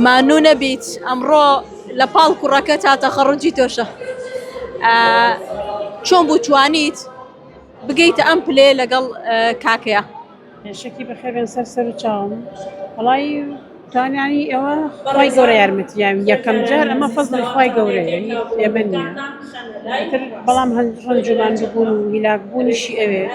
مانوو نەبیت ئەمڕۆ لە پاڵ کوڕەکە تا تەخەڕجی تۆشە چۆن بوو توانیت بگەیتە ئەم پلێ لەگەڵ کاکەیە شەکی بەخێبێن سەر سەر و چاوم وڵی توانیانی ئەوە خی گەورە یارمەتیان یەکەم جار ئەمە فەزلی خی گەورە ئێمە نیە بەڵام هەند ڕەنجومان بوون و هیلاک بوونیشی ئەوێت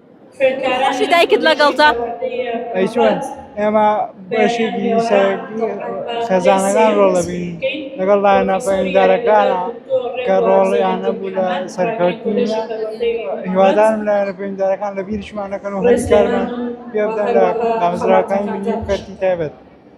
خۆشی دایکت لەگەڵتە ئەی چۆن ئێمە بەشێکی سەرەکی خێزانەکان ڕۆڵ دەبین لەگەڵ لایەنە پەیوەندارەکانە کە ڕۆڵیان نەبوو لە سەرکەوتنی هیوادارم لایەنە پەیوەندارەکان لە بیرشمان نەکەن و هەلی کارمان پێ بدەن لە دامەزراوەکانی ملی و کەرتی تایبەت